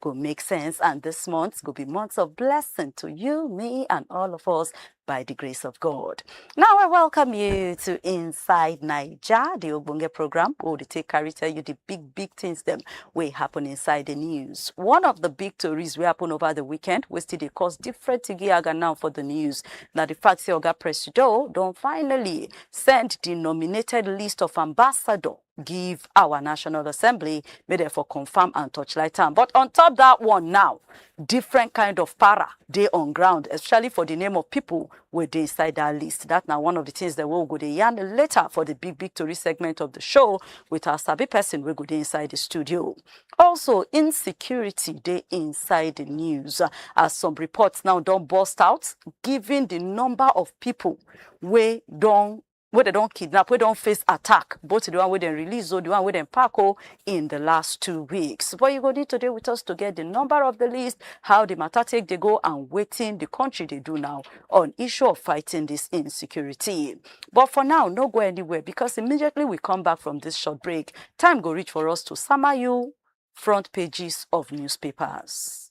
go make sense and this month go be months of blessing to you, me and all of us by the grace of God. Now I welcome you to Inside Niger, the Ogbonge program where we take carry tell you the big, big things them will happen inside the news. One of the big stories will happen over the weekend, which still they cause different giaga now for the news. Now the fact say Oga Presido don't finally send the nominated list of ambassador give our National Assembly, make dem for confirm and torchlight am. But on top that one now, different kind of para dey on ground, especially for the name of people wey dey inside that list. That na one of the things that we will go dey yarn later for the big big tori segment of the show with our sabi person wey go dey inside the studio. Also, insecurity dey inside the news as some reports now don burst out, giving the number of people wey don wey dem don kidnap, wey don face attack, both di one wey dem release o, di one wey dem pack o, in di last two weeks. But you go need to dey with us to get di number of di list, how di matter take dey go and wetin di country dey do now on issue of fighting dis insecurity. But for now, no go anywhere because immediately we come back from dis short break, time go reach for us to sama you front pages of newspapers.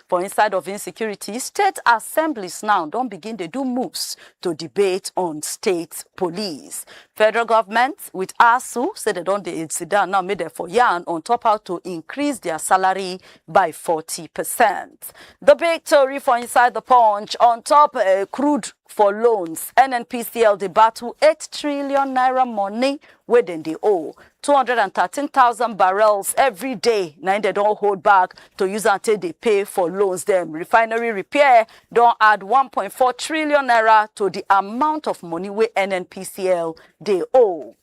For inside of insecurity, state assemblies now don begin dey do moves to debate on state police. Federal government with ASU say dem don dey sit down now make dem for yarn on top how to increase their salary by 40%. The big tori for inside the punch on top uh, crude for loans. NNPCL dey battle 8 trillion naira money wey dem dey owe 213,000 barrels every day na im dem don hold back to use am take dey pay for loans dem. Refinery repair don add 1.4 trillion naira to di amount of money wey NNPCL dey owe.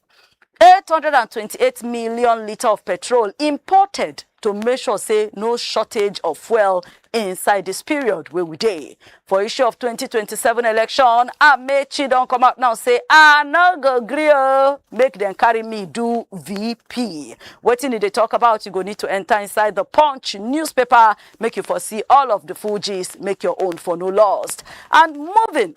828 million litre of petrol imported to make sure say no shortage of fuel inside this period where we dey. For issue of 2027 election, Amechi don come out now say, I no go gree o, make them carry me do VP. Wetin did they talk about? You go need to enter inside the Punch newspaper, make you for see all of the full gist, make your own for no lost. And moving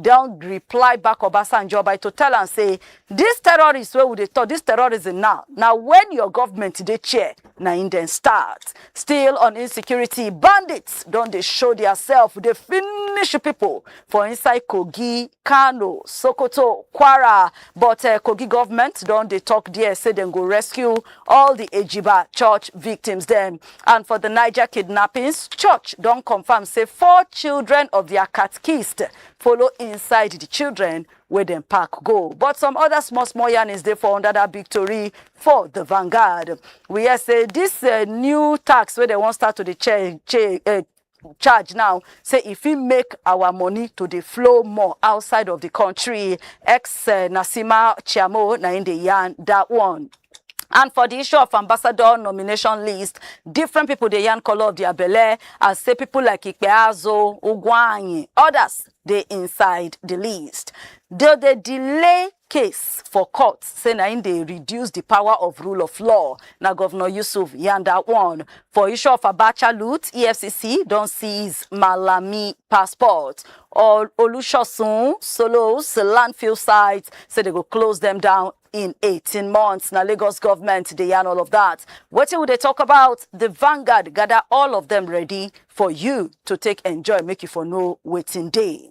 don reply back Obasanjo by to tell am say dis terrorists wey we dey talk dis terrorism now na when your government dey chair na im dem start still on insecurity bandits don dey show diasef dey finish pipo for inside kogi kano sokoto kwara but eh, kogi government don dey talk there say dem go rescue all di ejiba church victims dem And for the Niger kidnappings, church don confirm say four children of their catechist follow inside the children where dem pack go. But some other small small yarnings dey for under that big tori for the Vanguard. We hear say this uh, new tax where they wan start to the change, uh, charge now say e fit make our money to dey flow more outside of the country ex eh, nasima chiamo na im dey yarn that one. And for the issue of ambassador nomination list, different people dey yarn color of their belle as say people like Ikpeazo, Ugwanyi, others dey inside the list. Though they delay case for court say na im dey reduce di power of rule of law na govnor yusuf yarn dat one for issue of abacha loot efcc don seize malami passport or olusosun solos landfill sites say dem go close dem down in 18 months na lagos government dey yarn all of dat wetin we dey talk about di vanguard gather all of dem ready for you to take enjoy make you for know wetin dey.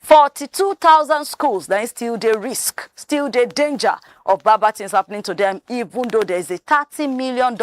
42,000 schools na im still dey risk, still dey danger of bad bad things happening to them, even though there is a $30 million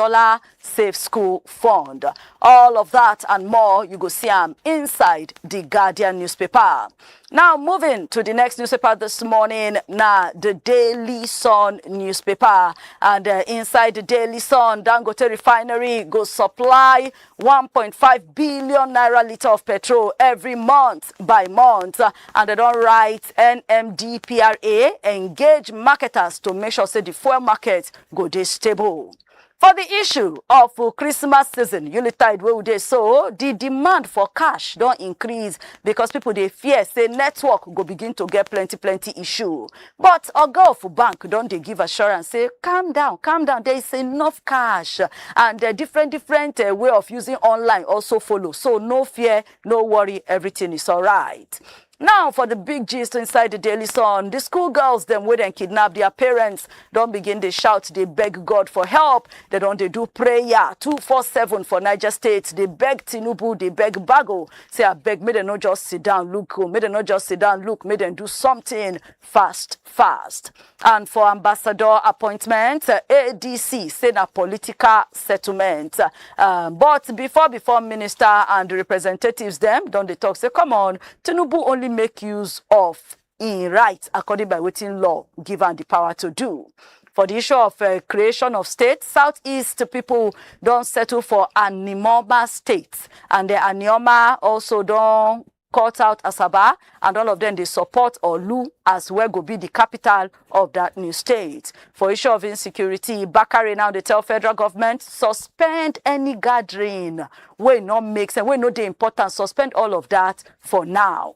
Safe School Fund. All of that and more, you go see am inside the Guardian newspaper. Now, moving to the next newspaper this morning, na the Daily Sun newspaper. And uh, inside the Daily Sun, Dangote Refinery go supply 1.5 billion naira litre of petrol every month by month and they don't write NMDPRA engage marketers to make sure say the fuel market go dey stable. For the issue of uh, Christmas season, Unitide wey we dey so, the demand for cash don't increase because people they fear say network go begin to get plenty plenty issue. But oga of bank don dey give assurance say calm down, calm down, there is enough cash and uh, different different uh, way of using online also follow. So no fear, no worry, everything is alright. Now for the big gist inside the Daily Sun, the schoolgirls them wey dem kidnap their parents don begin dey shout, dey beg God for help. They don dey do prayer 247 for Niger State, dey beg Tinubu, dey beg Bago Say abeg make dem no just sit down look go, make dem no just sit down look, make dem do something fast fast. And for ambassador appointment, uh, ADC say na political settlement. Uh, but before before minister and representatives them don't they talk say come on, Tinubu only make use of im right according by wetin law give am di power to do. For di issue of uh, creation of state, southeast pipo don settle for Animoma state and uh, Anioma also don cut out Asaba and all of them dey support Olu as well go be the capital of that new state. For issue of insecurity, Bakare now dey tell federal government suspend any gathering wey no make sense, wey no dey important, suspend all of that for now.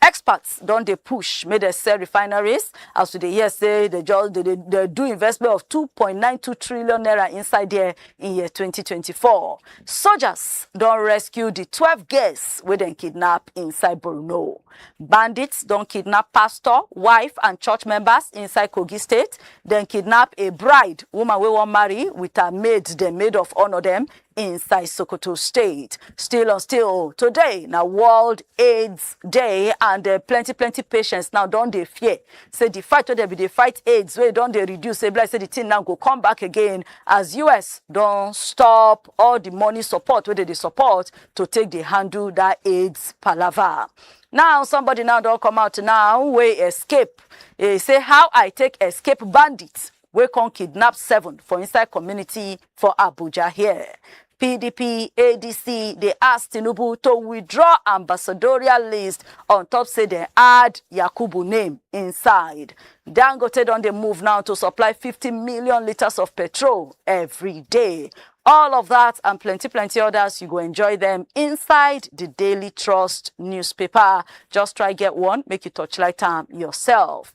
Experts don dey push make dem sell refineries as we dey hear say they just they, they, they do investment of 2.92 trillion naira inside there in year 2024. Soldiers don rescue the 12 girls wey dem kidnap inside Borno. Bandits don kidnap pastor, wife and church members inside Kogi state. Dem kidnap a bride, woman wey wan marry with her maid dem maid of honor dem inside Sokoto State. Still on still, today na World AIDS Day and uh, plenty plenty patients now don dey fear. Say the fight wey dem bin dey fight AIDS wey don dey reduce, say be like say the thing now go come back again as US don stop all the money support wey dey dey support to take dey handle that AIDS palava. Now somebody now don come out now wey escape. He say how I take escape bandits wey come kidnap seven for inside community for Abuja here. PDP ADC dey ask Tinubu to withdraw ambassadorial list on top say dem add Yakubu name inside. Dangote don dey move now to supply 50 million litres of petrol every day. All of that and plenty, plenty others, you go enjoy them inside the Daily Trust newspaper. Just try get one, make you touch light time yourself.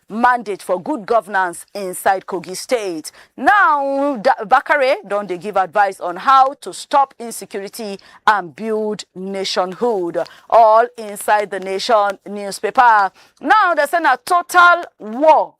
mandate for good governance inside Kogi State. Now, Bakare don dey give advice on how to stop insecurity and build nationhood, all inside the Nation newspaper. Now, they say na total war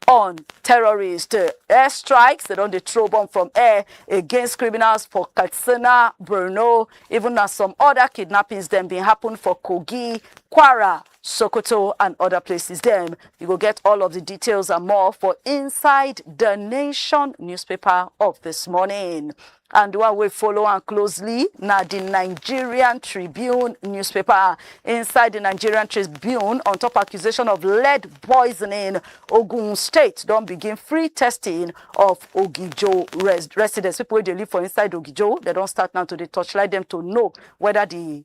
on terrorists. Uh, air strikes, they don't throw bomb from air against criminals for Katsina, Brno, even as some other kidnappings then been happen for Kogi, Kwara, Sokoto and other places dem. You go get all of the details and more for inside the Nation newspaper of this morning. And the one we follow and closely now the Nigerian Tribune newspaper. Inside the Nigerian Tribune, on top accusation of lead poisoning, Ogun State don't begin free testing of Ogijo res residents. People they live for inside Ogijo, they don't start now to the torchlight them to know whether the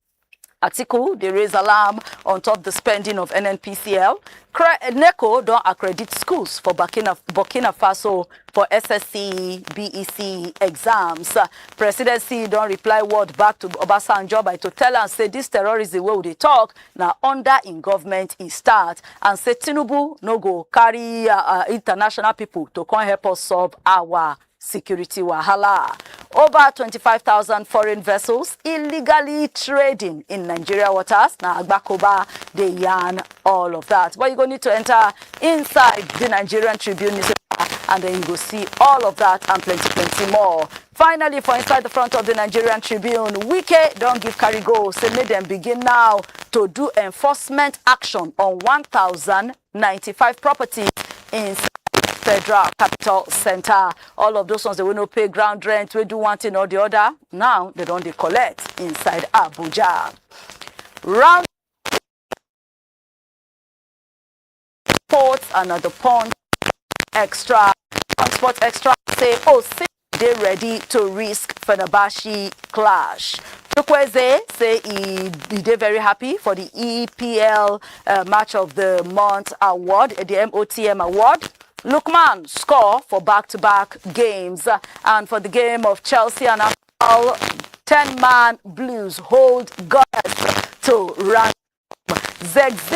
Atiku dey raise alarm on top the spending of NNPCL. Cre- NECO don accredit schools for Burkina, Burkina Faso for SSC, BEC exams. Uh, Presidency don reply word back to Obasanjo by to tell am say this terrorism wey we dey talk na under im government e start and say Tinubu no go carry uh, uh, international people to come help us solve our security wahala. Over 25,000 foreign vessels illegally trading in Nigeria waters. Now, Agbakoba, they yarn all of that. But you go need to enter inside the Nigerian Tribune newspaper and then you go see all of that and plenty, plenty more. Finally, for inside the front of the Nigerian Tribune, Wike don't give carry go. Say, make them begin now to do enforcement action on 1,000 95 properties in federal capital center all of those ones wey no pay ground rent wey do one thing or the other now they don dey collect inside abuja round sports and na the punch extra punch sports extra say oh six dey ready to risk Fenerbahce clash. Chukwueze say he, he dey very happy for the EPL uh, Match of the Month award, the MOTM award. Lukman score for back-to-back -back games uh, and for the game of Chelsea and Arsenal, 10-man Blues hold Gunners to run. Zexi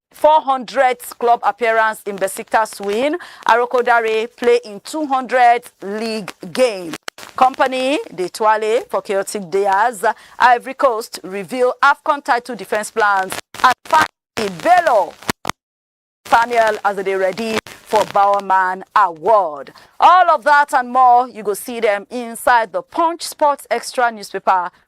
four hundredth club appearance in Besiktas win, Arokodare play im two hundredth league game. Company dey twale for chaotic day as Ivory Coast reveal AFCON title defence plans and finally Bello Samuel as they dey ready for Bowerman Award. All of that and more, you go see them inside the Punch Sports Extra newspaper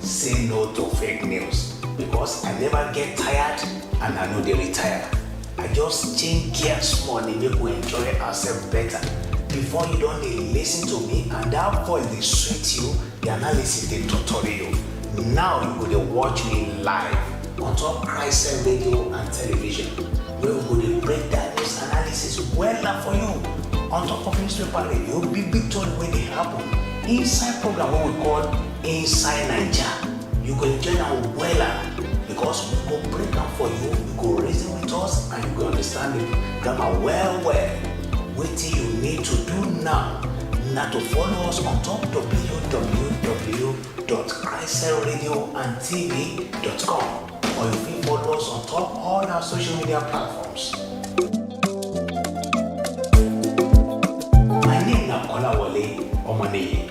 Say no to fake news because I never get tired and I no dey retire. I just change gear small dey make we enjoy ourselves better. Before you don dey listen to me and that voice dey sweet you, the analysis dey torture you. Now you go dey watch me live on top Christ radio and television wey we go dey break down news analysis wella for you on top of newspaper radio, big big tori wey dey happen inside program wey we call inside naija you go enjoy am wella because we go break am for you you go reason with us and you go understand the grammar well well wetin you need to do now na to follow us on top www.christcelradioandtv.com or you fit follow us on top all our social media platforms. My name na Kolawole Omaniyi.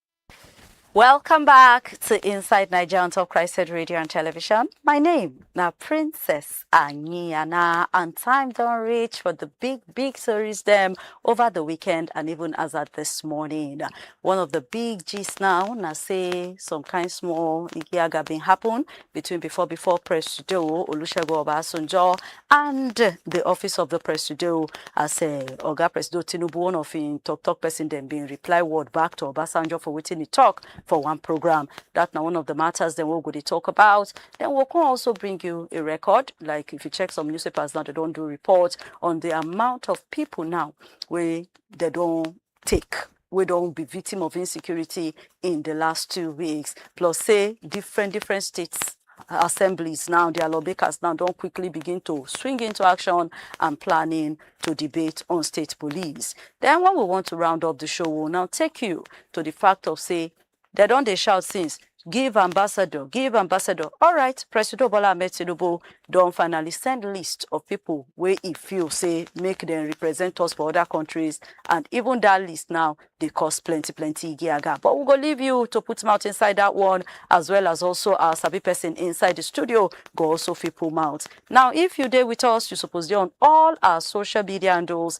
Welcome back to Inside Niger on Top Christed Radio and Television. My name now Princess Anyiana and time don't reach for the big, big stories them over the weekend and even as at this morning. One of the big G's now, now say some kind small Igiaga been happen between before before Presido Olusegun Obasanjo and di office of di presido as eh, oga presido tinubu one of im tok tok pesin dem bin reply word back to obasanjo for wetin e tok for one program dat na one of di matters dem wey we go dey tok about den we con also bring you a record like if you check some newspapers now dem don do report on di amount of pipo now wey dem don take wey don be victim of insecurity in di last two weeks plus say different different states assemblies now dia lawmakers now don quickly begin to swing into action and planning to debate on state police den wen we want to round up di show we will now take you to di fact of say Dem don dey shout since, Give ambassador, give ambassador. Alright, Presido Bola Ahmed Tinubu don finally send list of pipo wey e feel say make dem represent us for oda kontris and even dat list now dey cause plenty plenty igiaga. But we go leave you to put mouth inside dat one as well as also our sabi pesin inside di studio go also fit put mouth. Now if you dey with us, you suppose dey on all our social media handles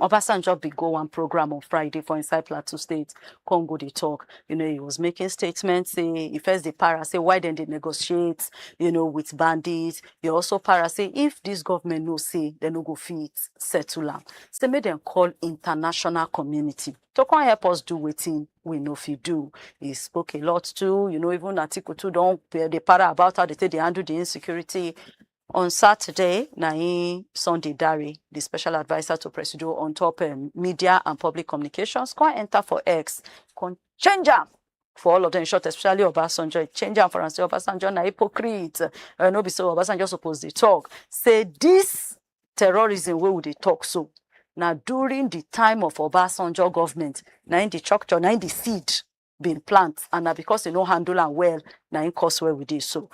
Obasanjo bin go one programme on Friday for inside Plateau State, come go dey talk. You know, he was making statements say he first dey para say why dem dey negotiate, you know, with bandits. He also para say if this government know say dem no go fit settle am, say make dem call international community to come help us do wetin we no fit do. He spoke a lot too, you know, even Atiku too don dey para about how they take dey handle the insecurity. On Saturday na im Sunday Dare, di special adviser to Presido on top um, media and public communications, come enter for X, come change am for all of them short, especially Obasanjo. He change am for am say Obasanjo na hypocrite. Uh, no be so Obasanjo suppose dey talk. Say this terrorism wey we dey talk so na during the time of Obasanjo government na im the structure na im the seed been plant and na because they no handle am well na im cause where we dey so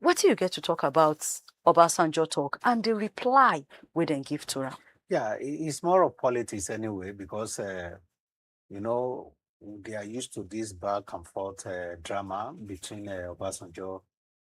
wetin you get to talk about obasanjo talk and the reply wey dem give to am Yeah, i- it's more of politics anyway because uh, you know they are used to this back and forth uh, drama between uh, Obasanjo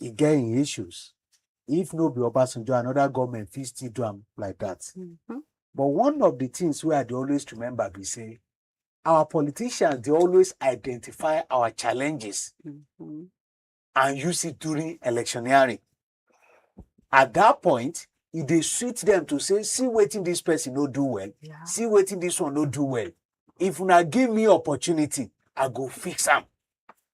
e get im issues. If no be Obasanjo, another government fit still do am like that. Mm -hmm. But one of the things wey I dey always remember be say our politicians dey always identify our challenges mm -hmm. and use it during electioneering. At that point, e dey sweet them to say, see wetin this person no do well, yeah. see wetin this one no do well. If una give me opportunity, I go fix am.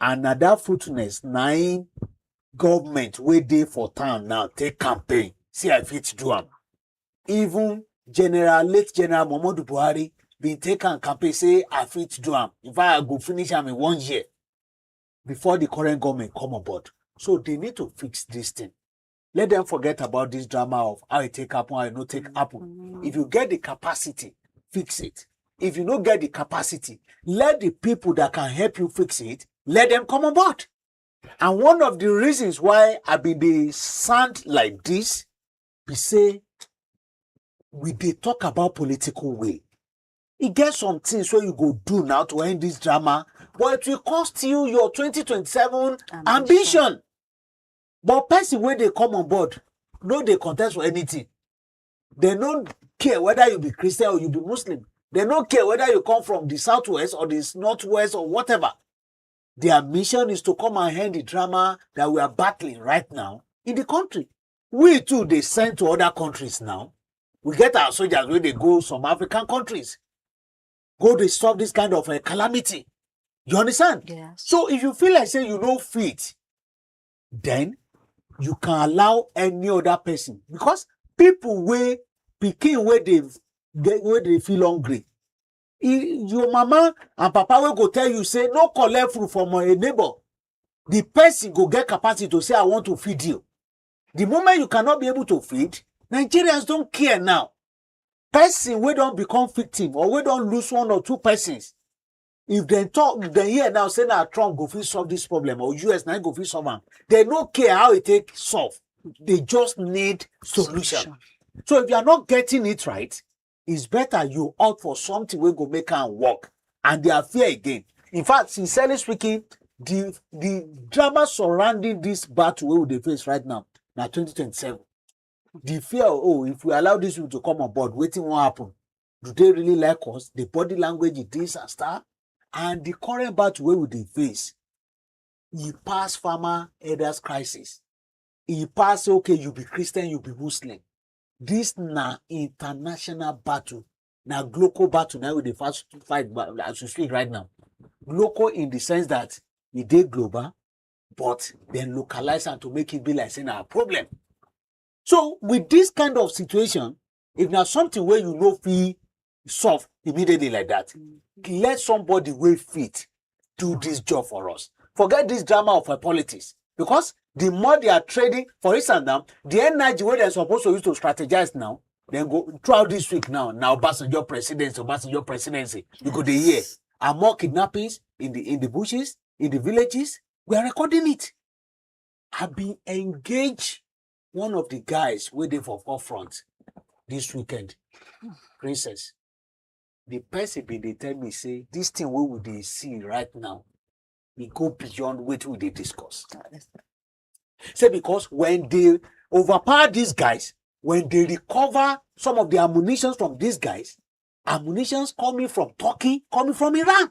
and na that fruitfulness na im government wey dey for town now take campaign see i fit do am even general late general muhammadu buhari bin take am campaign say i fit do am in fact i go finish am in one year before the current government come on board so they need to fix this thing let them forget about this drama of how it take happen, how it no take mm-hmm. happen. Mm-hmm. If you get the capacity, fix it. If you no get the capacity, let the people that can help you fix it, let them come on board. And one of the reasons why I be the sound like this, we say we they talk about political will. e get some things wey you go do now to end this drama but it will cost you your 2027 ambition. ambition. but person wey dey come on board no dey contest for anything dem no care whether you be christian or you be muslim dem no care whether you come from the southwest or the northwest or whatever their mission is to come and end the drama that we are battling right now in the country we too dey send to other countries now we get our soldiers wey dey go some african countries go dey stop this kind of uh, calamity you understand Yes. so if you feel like say you no fit then you can allow any other person because people wey pikin wey dey get wey dey feel hungry e your mama and papa wey go tell you say no collect food from a neighbor the person go get capacity to say i want to feed you the moment you cannot be able to feed nigerians don care now person wey don become victim or wey don lose one or two persons if dem talk if dem hear now say na trump go fit solve this problem or us na im go fit solve am dem no care how e take solve they just need solution Solution. so if you are not getting it right it's better you opt for something wey go make am work and they are fear again in fact sincerely speaking the the drama surrounding this battle wey we dey face right now na 2027 the fear oh if we allow this people to come on board wetin wan happen do they really like us the body language e dey and stuff and the current battle wey we dey face e pass farmer elders crisis e pass okay you be christian you be muslim this na international battle na global battle na we dey fast fight as we speak right now global in the sense that e dey global but dem localize am to make it be like say na problem so with this kind of situation If na something wey you no fit solve immediately like that, mm-hmm. let somebody wey fit do this job for us. Forget this drama of uh, politics because the more they are trading, for instance now, the energy wey dem suppose to use to strategize now, then go throughout this week now, now Obasanjo presidency, Obasanjo presidency, you go dey hear. And more kidnappings in the in the bushes, in the villages, we are recording it. I've been engaged one of the guys wey dey for forefront this weekend princess the person bin dey tell me say this thing wey we dey see right now e go beyond wetin we dey discuss say because when they overpower these guys when they recover some of the ammunitions from these guys ammunitions coming from turkey coming from iran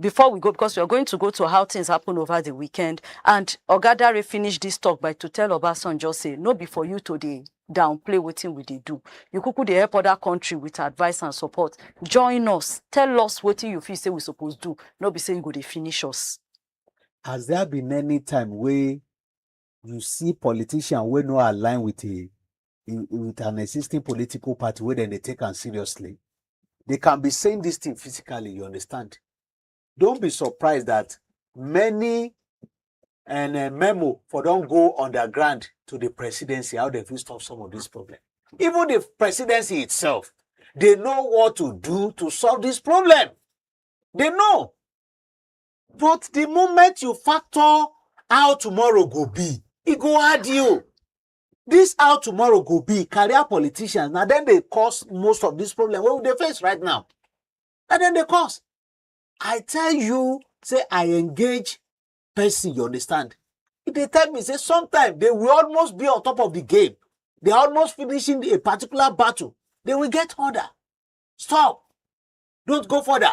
Before we go because we are going to go to how things happen over the weekend and Oga Dare finish this talk by to tell Obasanjo say no be for you to dey downplay wetin we dey do. You kuku dey help other country with advice and support. Join us, tell us wetin you feel say we suppose do, no be say you go dey finish us. As there be many time wey you see politician wey no align with a with an existing political party wey dem dey take am seriously they can be saying this thing physically you understand don't be surprised that many and uh, memo for don go underground to the presidency how they fit stop some of this problem even the presidency itself they know what to do to solve this problem they know But the moment you factor how tomorrow go be, e go hard you. This how tomorrow go be, career politicians, na dem dey cause most of this problem wey we dey face right now. Na dem dey cause. I tell you say I engage person, you understand? E dey tell me say sometimes they will almost be on top of the game. They are almost finishing a particular battle. They will get order. Stop. Don't go further.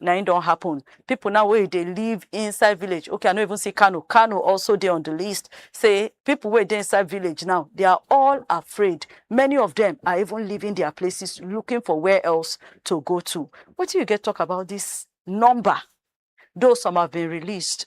na im don happen. Pipu now wey dey live inside village, okay I no even see Kano, Kano also dey on di list say pipu wey dey inside village now they are all afraid, many of dem are even leaving dia places looking for where else to go to. Wetin you get talk about dis number, though some have been released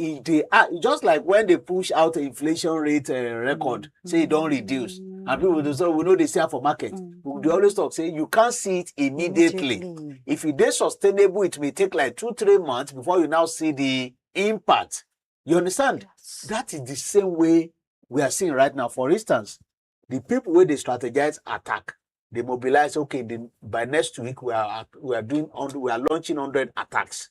e dey ah, e just like when they push out inflation rate uh, record mm -hmm. say e don reduce mm -hmm. and people dey say we no dey see am for market mm -hmm. we dey always talk say you can't see it immediately, immediately. if e dey sustainable it may take like two three months before you now see the impact you understand yes. that is the same way we are seeing right now for instance the people wey dey strategize attack they mobilize okay the, by next week we are we are doing we are launching hundred attacks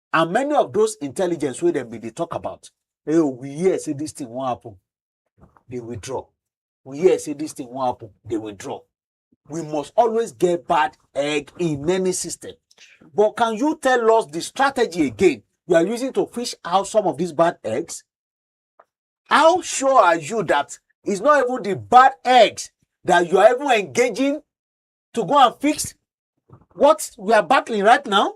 and many of those intelligence wey dem bin dey talk about hey, oh, we hear say this thing wan happen dey withdraw we hear say this thing wan happen dey withdraw we must always get bad egg in any system but can you tell us the strategy again you are using to fish out some of these bad eggs how sure are you that it's not even the bad eggs that you are even engaging to go and fix what we are battling right now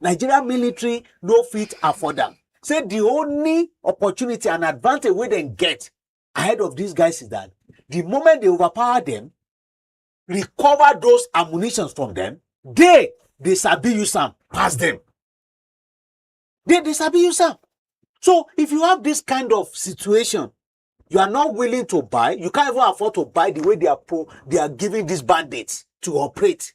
nigeria military no fit afford am say the only opportunity and advantage wey dem get ahead of these guys is that the moment they overpower them recover those ammunitions from them they dey sabi use am pass them they dey sabi use am so if you have this kind of situation you are not willing to buy you can't even afford to buy the way they are pro they are giving these bandits to operate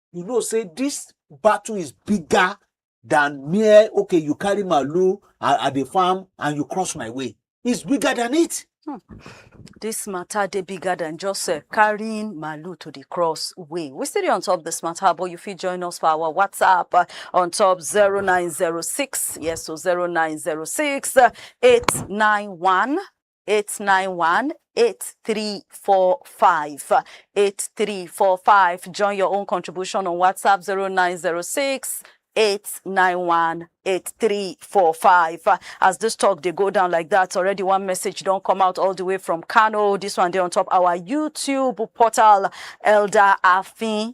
you know say this battle is bigger than mere okay you carry malu at, at the farm and you cross my way it's bigger than it hmm. this matter they bigger than just uh, carrying malu to the cross way we still on top this matter but you feel join us for our whatsapp uh, on top 0906 yes so 0906 uh, 891 891 8345 8345 join your own contribution on whatsapp 0906 891 8345 Uh, as this talk they go down like that already one message don't come out all the way from kano this one they on top our youtube portal elder afin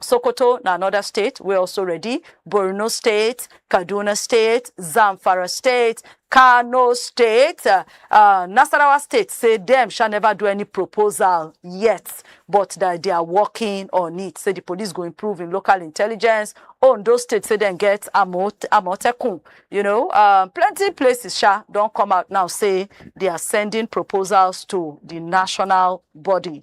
Sokoto na anoda state wey also ready, Borno state, Kaduna state, Zamfara state, Kano state, uh, uh, Nasarawa state say dem shall never do any proposal yet, but that they are working on it. Say the police go improve in local intelligence. Ondo state say dem get Amot- Amotekun. You know, um, plenty places sha don come out now say they are sending proposals to the national body.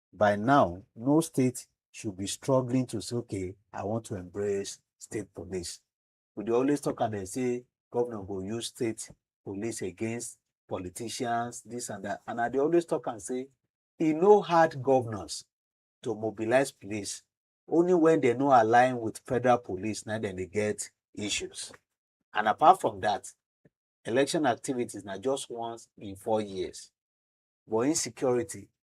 by now, no state should be struggling to say, okay, I want to embrace state police. We dey always talk and they say governor go use state police against politicians, this and that. And I dey always talk and say, e no hard governors to mobilize police. Only when they no align with federal police, now then they get issues. And apart from that, election activities now just once in four years. But insecurity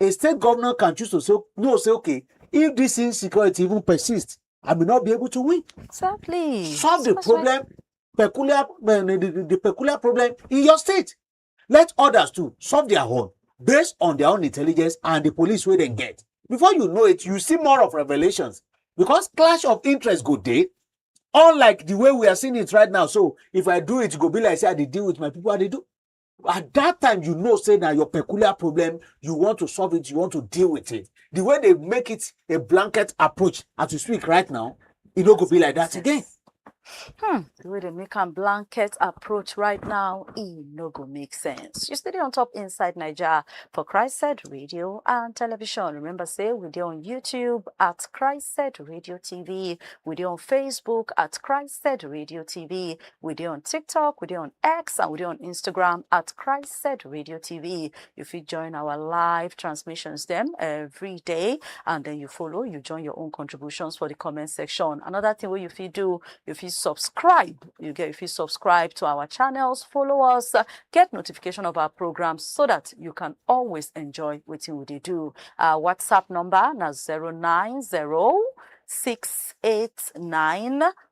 a state governor can choose to say no say okay if this insecurity even persist i may not be able to win exactly solve the problem peculiar eh, the, the, the peculiar problem in your state let others too solve their own based on their own intelligence and the police wey dem get before you know it you see more of revelations because clash of interest go dey unlike the way we are seeing it right now so if i do it go be like say i dey deal with my people i dey do at that time you know say na your peculiar problem you want to solve it you want to deal with it the way they make it a blanket approach as you speak right now e no go be like that again. Hmm, the way they make a blanket approach right now e no go make sense you still dey on top inside naija for christ said radio and television remember say we dey on youtube at christ said radio tv we dey on facebook at christ said radio tv We dey on TikTok, we dey on X, and we dey on Instagram at Christ Radio TV. You fit join our live transmissions them every day, and then you follow, you join your own contributions for the comment section. Another thing what you fit do, you fit subscribe. You get if you subscribe to our channels, follow us, uh, get notification of our programs so that you can always enjoy what we dey do. Our WhatsApp number na 090 689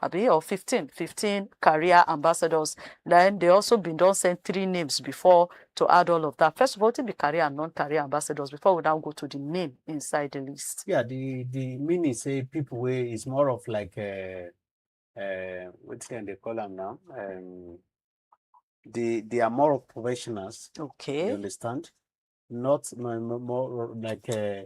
abi or fifteen fifteen career ambassadors na im dey also bin don send three names before to add all of that first of all wetin be career and non-career ambassadors before we now go to the name inside the list. Yeah, the the meaning say people wey is more of like uh, uh, wetin dem dey call am now um, they they are more of professionals. You okay understand? Not more, more like uh,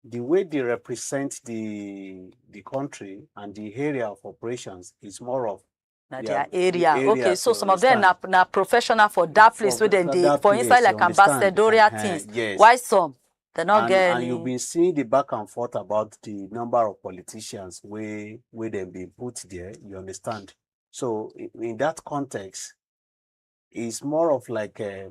di way dey represent di di country and di area of operations is more of na their their area area okay so to some of them na understand. na professional for that place For- wey dem for dey that for inside place, you like understand? ambassadorial Eh-heh, things yes. why some dem no and, get and any you've been seeing the back and forth about the number of politicians where where they been put there you understand so in, in that context it's more of like a,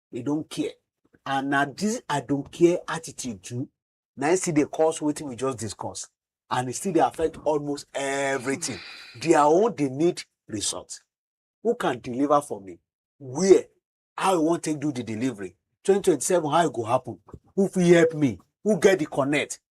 they don't care and na this i don't care attitude too na im still dey cause wetin we just discuss and e still dey affect almost everything their own dey need result who can deliver for me where how i wan take do the delivery 2027 how e go happen who fit help me who get the connect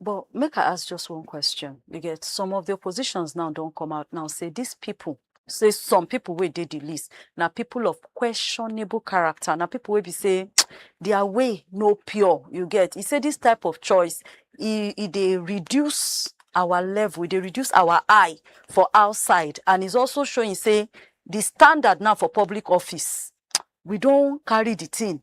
But make I ask just one question. You get some of the oppositions now don't come out now say these people say some people wey dey the list na people of questionable character na people wey be say their way no pure you get e say this type of choice e e dey reduce our level e dey reduce our eye for outside and is also showing say the standard now for public office we don carry the thing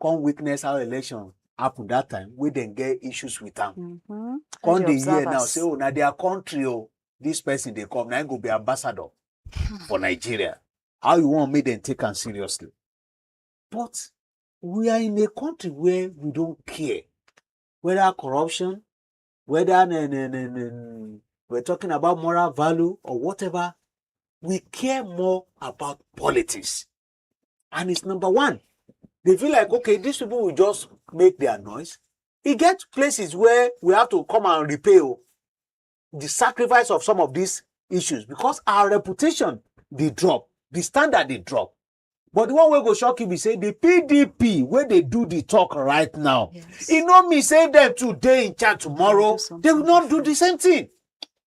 come witness how election happen that time wey dem get issues with am mm -hmm. come dey hear now say oh na their country o oh, this person dey come na go be ambassador hmm. for nigeria how you wan make dem take am seriously but we are in a country where we don care whether corruption whether ne, ne, ne, ne, we're talking about moral value or whatever we care more about politics and it's number one they feel like okay these people will just make their noise e get places where we have to come and repay o the sacrifice of some of these issues because our reputation dey drop the standard dey drop but the one wey go shock you be say the pdp wey dey do the talk right now Yes. e no mean say dem too dey in charge tomorrow They will do they will not do the same thing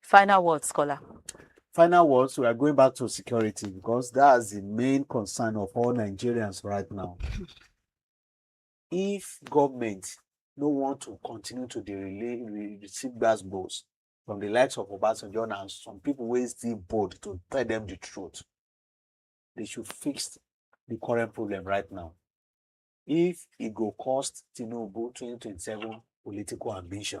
Final words, Kola. Final words, we are going back to security because that's the main concern of all Nigerians right now. if government no want to continue to dey relay re receive gbas gbos from the likes of Obasanjo and some people wey still bold to tell them the truth, they should fix the current problem right now. If e go cost Tinubu 2027 political ambition,